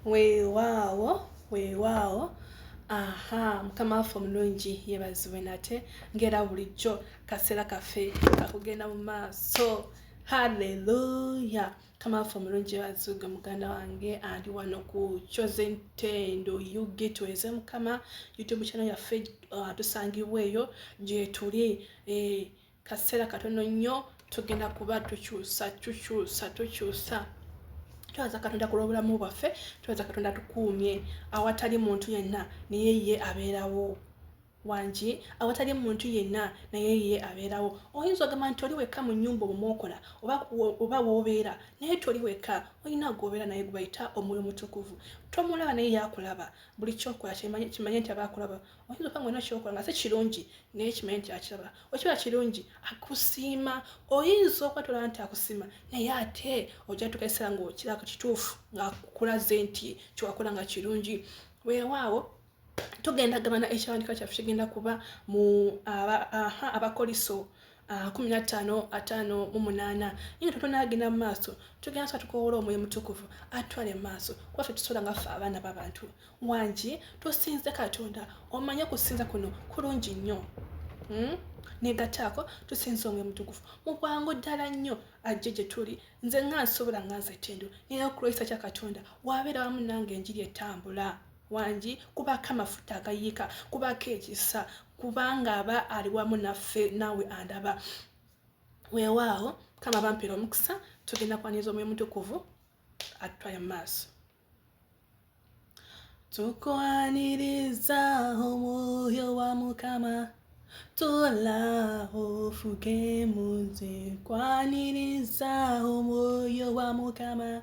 weewaawo weewaawo aha mukama waffe omulungi yebaziwe nate ngaera bulijjo kaseera kaffe kakugenda mu maaso halleluya mukama waffe omulungi yebaziwge muganda wange ali wano ku coze ntendo ug tuweze mukama youtube channel yaffe uh, tusangibwa eyo gyetuli eh, kaseera katono nnyo tugenda kuba tukyusa tukyusa tukyusa twebaza katonda ku lw'obulamu bwaffe twebaza katonda tukuumye awatali muntu yenna naye ye abeerawo wangi awatali muntu yenna naye ye abeerawo oyinza ogamba nti oli wekka mu nyumba omumwokola oba woobeera naye toli wekka olina gwobeera naye gwebayita omwoyo mutukuvu tomulaba naye yakulaba buli kyokola kimanye nti aba akulaba oyinza okuba ngaolina kyokola nga si kirungi naye kimanyi nti akiraba okiba kirungi akusiima oyinza okwatula nti akusiima naye ate ojatuka ekiseera ngaokirako kituufu ngaakulaze nti kyewakola nga kirungi weewaawo tugenda gabana ekiwandiiko kyaffe kigenda kuba mu abakolisa Ah, kumi na ttaano ataano mu munaana naye nga totona agenda mu maaso tugenda sa tukowoola omwoyo mutukuvu atwale mu maaso kuba fe tusobola nga ffe abaana b'abantu wangi tusinze katonda omanye okusinza kuno kulungi nnyo hmm? negataako tusinza omwoyo mutukuvu mu bwangu ddala nnyo ajje gye tuli nze nga nsobola nga nze tendo naye okulwayisa kya katonda wabeera wamu nange enjiri etambula wangi kubako amafuta agayiika kubako ekisa kubanga aba ali wamu naffe naawe andaba weewaawo kama bampera omukisa tugenda kwaniriza omwoyo mutukuvu atutwale mu maaso tukwaniriza omwoyo wa mukama tola ofuke muze kwaniriza omwoyo wa mukama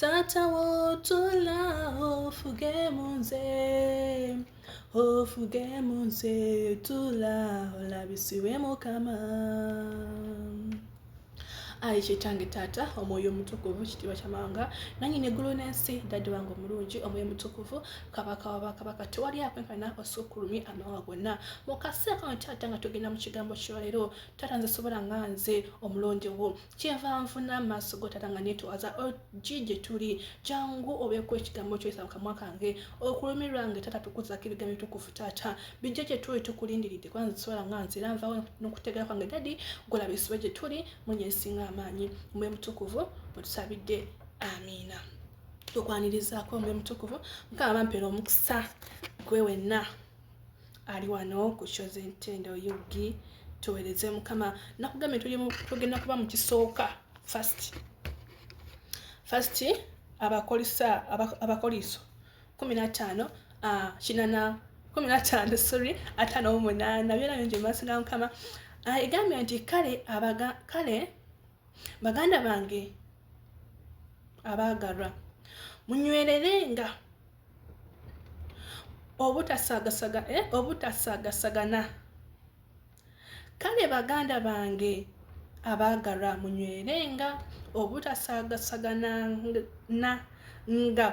Taata w'otuula ofuge mu nze ofuge mu nze tuula olabisibwe mukama ayi kyetange taata omwoyo omutukuvu kitiibwa kyamawanga nanyini eggulu n'ensi dadde wange omulungi omwoyo omutukuvu kabaka wabakabaka tewali akwenkana osukulumi amawa gonna mukaseera kano taata nga tugenda mu kigambo kyolero taata nze sobola nga nze omulondewo kyeva nfuna amaaso gotata nga netwaza ogi oh, gyetuli jangu obeku ekigambo kyoyisa mukamwa kange okulumirwa nge tata tukuzako ebigambo bitukufu tata bijja gyetuli tukulindiridde kuba nziswala nga nzira nvawo nokutegera kwange dadi golaba esiba gyetuli munye esinga amaanyi mwe mutukuvu mwetusabidde amiina tukwanirizaako mwe mutukuvu mukama bampeera omukisa gwe wenna ali wano ku show z'entendo ug tuwereze mukama nakugambye tugenda kuba mu kisooka fast fast abakolisa abakoliso kumi n'ataano ah, kinana kumi n'ataano sorry ataano mu munaana byona bingi mu maaso ga mukama ah, egambye nti kale abaga kale baganda bange abaagalwa munywerere nga obutasagasaga eh, obutasagasagana kale baganda bange abaagalwa munywerenga obutasagasagana na nga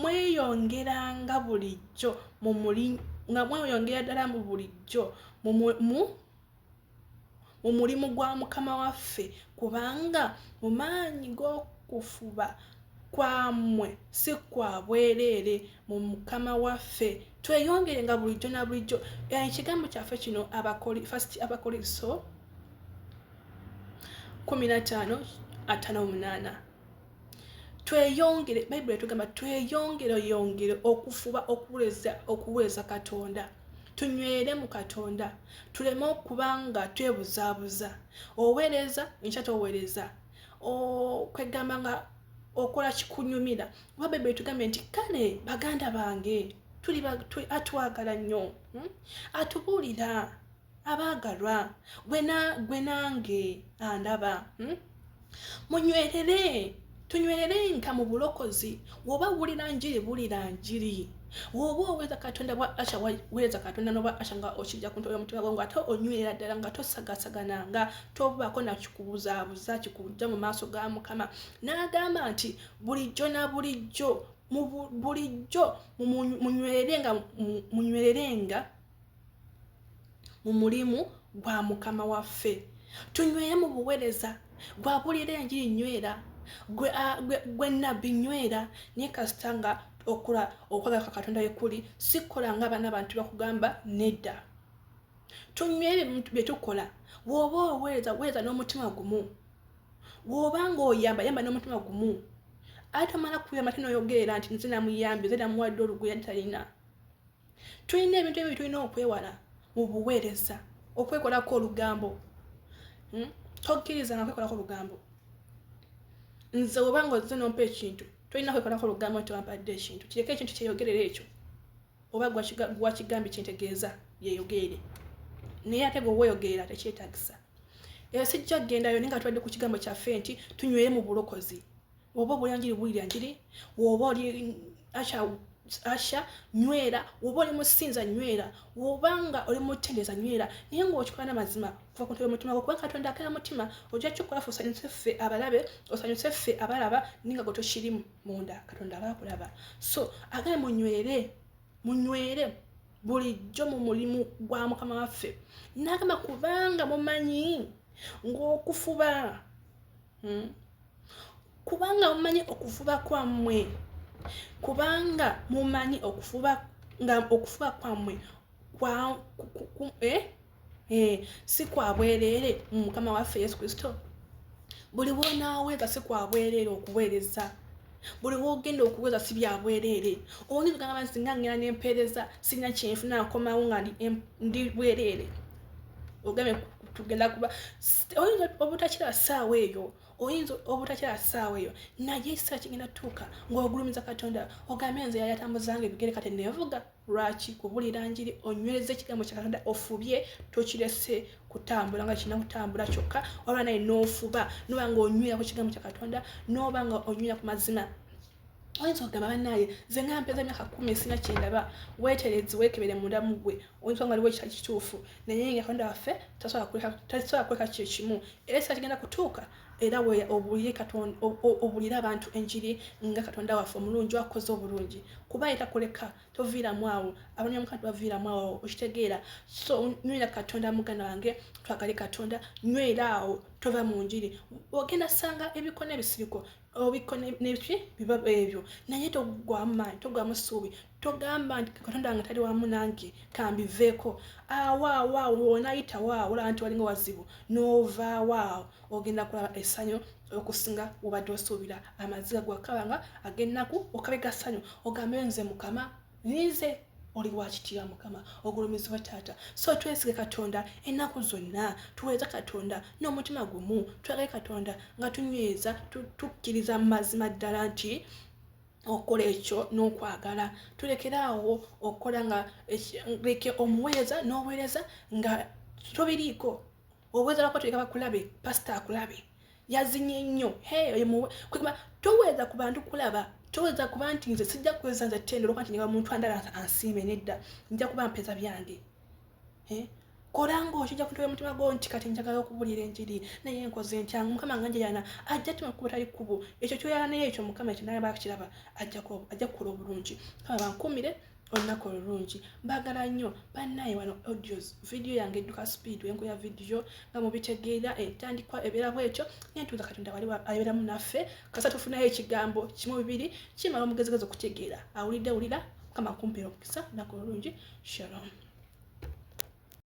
mweyongeranga bulijjo nga mweyongera ddala mu bulijjo mu mu mulimu gwa mukama waffe kubanga mu maanyi g'okufuba kwammwe si kwa bwereere mu mukama waffe tweyongere nga bulijjo na bulijjo eh, ekigambo kyaffe kino first abakolinso 15 58 tweyongere bayibuli etugamba tweyongere yongere okufuba okuwuleza okuwuleza katonda tunywere mu katonda tuleme okuba nga twebuzaabuza oweereza enkya toweereza kwegamba nga okola kikunyumira oba bayibuli etugambye nti kale baganda bange atwagala nnyo hmm? atubuulira abaagalwa gwe nange andaba hmm? munywerere tunywererenga mu bulokozi woba wulira njiri bulira njiri woba oweereza katonda bwa asha weereza katonda noba asha nga okijja ku ntoya omutima gwo nga ate onywerera ddala nga tosagasagana nga tobaako nakikubuzabuza kikujja mu maaso ga mukama n'agamba nti bulijjo na bulijjo bulijjo munywererenga munywererenga mu mulimu gwa mukama waffe tunyweye mu buwereza gwabulira enjiri nywera gwe nabbi nywera naye kasita nga okula okwagala kwa katonda wekuli sikola nga abaana abantu bakugamba nedda tunywere byetukola woba oweereza weereza n'omutima gumu woba nga oyamba yamba n'omutima gumu atomala kuyamba tinoyogerera nti nze namuyambi nze namuwadde oluguya ntalina tulina ebintu ebyo byetulina okwewala mu buweereza okwekolako olugambo hmm? tokkirizanga kwekolako olugambo nze obanga oze nompa ekintu tolina kwekolako olugambo nti wampadde ekintu kireke ekintu kyeyogerera ekyo oba gwakigambye kyentegeeza yeyogeere naye ate gwe weyogerera tekyetagisa eyo sijja kugendayo naye nga tubadde ku kigambo kyaffe nti tunywere mu bulokozi woba obola njiri wulira njiri woba oli asha asha nywera woba oli musinza nywera woba nga oli mutendeza nywera naye ngaokikola namazima kuva ku ntebe mutima gwo kuba katonda akera mutima ojja kikola fe osanyuse ffe abalabe osanyuse ffe abalaba ninga gwe tokirimu munda katonda aba akulaba so agaye munywere munywere bulijjo mu mulimu gwa mukama waffe nagamba kubanga mumanyi ng'okufuba hmm? kubanga mumanyi okufuba kwammwe kubanga mumanyi okufuba nga okufuba kwammwe eh, eh, si kwa bwereere mu mukama waffe yesu kristo buli bwonaaweeza si kwa bwereere okuweereza buli wogenda okuweza si byabwereere oyinza ogamba nti singa ngenda nempeereza sirina kyenfuna nkomawo nga ndi bwereere ogambye tugenda kuba oyinza obutakira saawa eyo oyinza obutakira saawa eyo naye ekiseera kigenda tuuka ngaogulumiza katonda ogambye nze yayatambuzanga ebigere kati nevuga lwaki kubulira njiri onywereza ekigambo kya katonda ofubye tokirese kutambula nga kirina kutambula kyokka olwa naye nofuba noba nga onywera ku kigambo kya katonda noba nga onywera ku mazima oyinza okugamba banaye nze nga mpeza emyaka kumi sina kyendaba weterezi wekebere munda mugwe oyinza nga liwo ekitali kituufu naye nga katonda waffe tasobola kuleka kyo kimu era ekisa kigenda kutuuka era we obulire katonda obulire abantu enjiri nga katonda waffe omulungi wakoze obulungi kuba era kuleka toviiramu awo abanya mukama tebaviiramu awo okitegeera so nywera katonda muganda wange twagale katonda nywera awo tova mu njiri ogenda sanga ebikona ebisiriko obikko nebiki biba ebyo naye togwamu maanyi togwamu ssuubi togamba nti katonda wange tali wamu nange kambiveeko awaawaawo wonayita waawo olaba nti walinga wazibu novaawaawo ogenda kulaba essanyu okusinga wobadde osuubira amaziga gwakabanga agennaku okabe gassanyu ogambe nze mukama ninze oli wakitibwa mukama ogulumizibwa taata so twesige katonda ennaku zonna tuweereza katonda n'omutima gumu twagale katonda nga tunyweza tukkiriza mu mazima ddala nti okukola ekyo n'okwagala tulekere awo okukola nga leke omuweereza n'obuweereza nga tobiriiko obuweereza lwako tuleka bakulabe pasita akulabe yazinye nnyo kwekuba toweza ku bantu kulaba toweza kuba nti nze sijja kuweza nze tendo olwokuba nti nyaba muntu andala ansiime nedda nja kuba mpeza byange kola ngaokija kuntoya omutima gwo nti kati njagala okubulira enjiri naye nkoze ntyangu mukama nga njeyana ajja tuma kuba tali kkubo ekyo kyoyala naye ekyo mukama ekyo naye bakiraba ajja kukola obulungi kama bankuumire olunaku olulungi mbagala nnyo bannaye wano audios vidiyo yange edduka speed wenku ya vidiyo nga mubitegeera entandikwa ebeera bwetyo nentuuza katonda wali abeeramu naffe kasa tufunayo ekigambo kimu bibiri kimala omugezigezi okutegeera awulidde wulira kama kumpera omukisa olunaku olulungi shalom